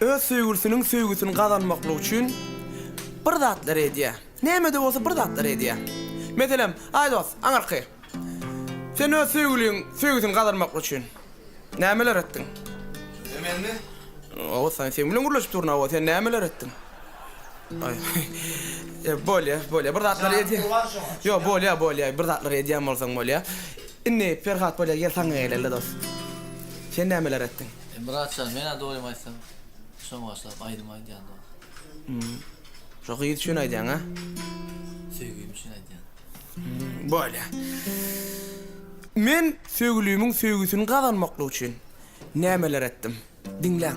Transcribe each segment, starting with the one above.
Öz söýgülisiniň söýgüsini gazanmaklyk üçin bir zatlar edýär. Näme-de bolsa bir zatlar edýär. Meselem, aý dost, aňyrky. Sen öz söýgüliň söýgüsini gazanmaklyk üçin nämeler etdiň? Kim, menmi? Hawa, sen sen bilen gürleşip durun, hawa, sen nämeler etdiň? Aý, bolýar, bolýar, bir zatlar edýär. Janyň bar şoňa. Ýok, bolýar, bolýar, bir zatlar edýän bolsaň bolýar. Indi, Perhat, bolýar, gel saňa geleli, dost. Sen nämeler etdiň? E Myrat jan menä doýum aýtsam şoň başlap aýdym aýdýan dos. Hmm. Şo gyz üçin aýdýaň a? Söýgim üçin aýdýan. Bolýa. Men söýgülimiň söýgüsini gazanmaklyk üçin nämeler etdim? Diňläň.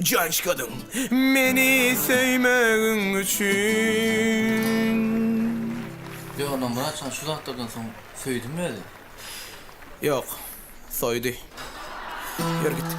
Janşkadyň meni söýmegiň üçin. Yo onda Murat şan şu zatlardan soň söýdimi özi? Yok. Soydy. Yör gitdik.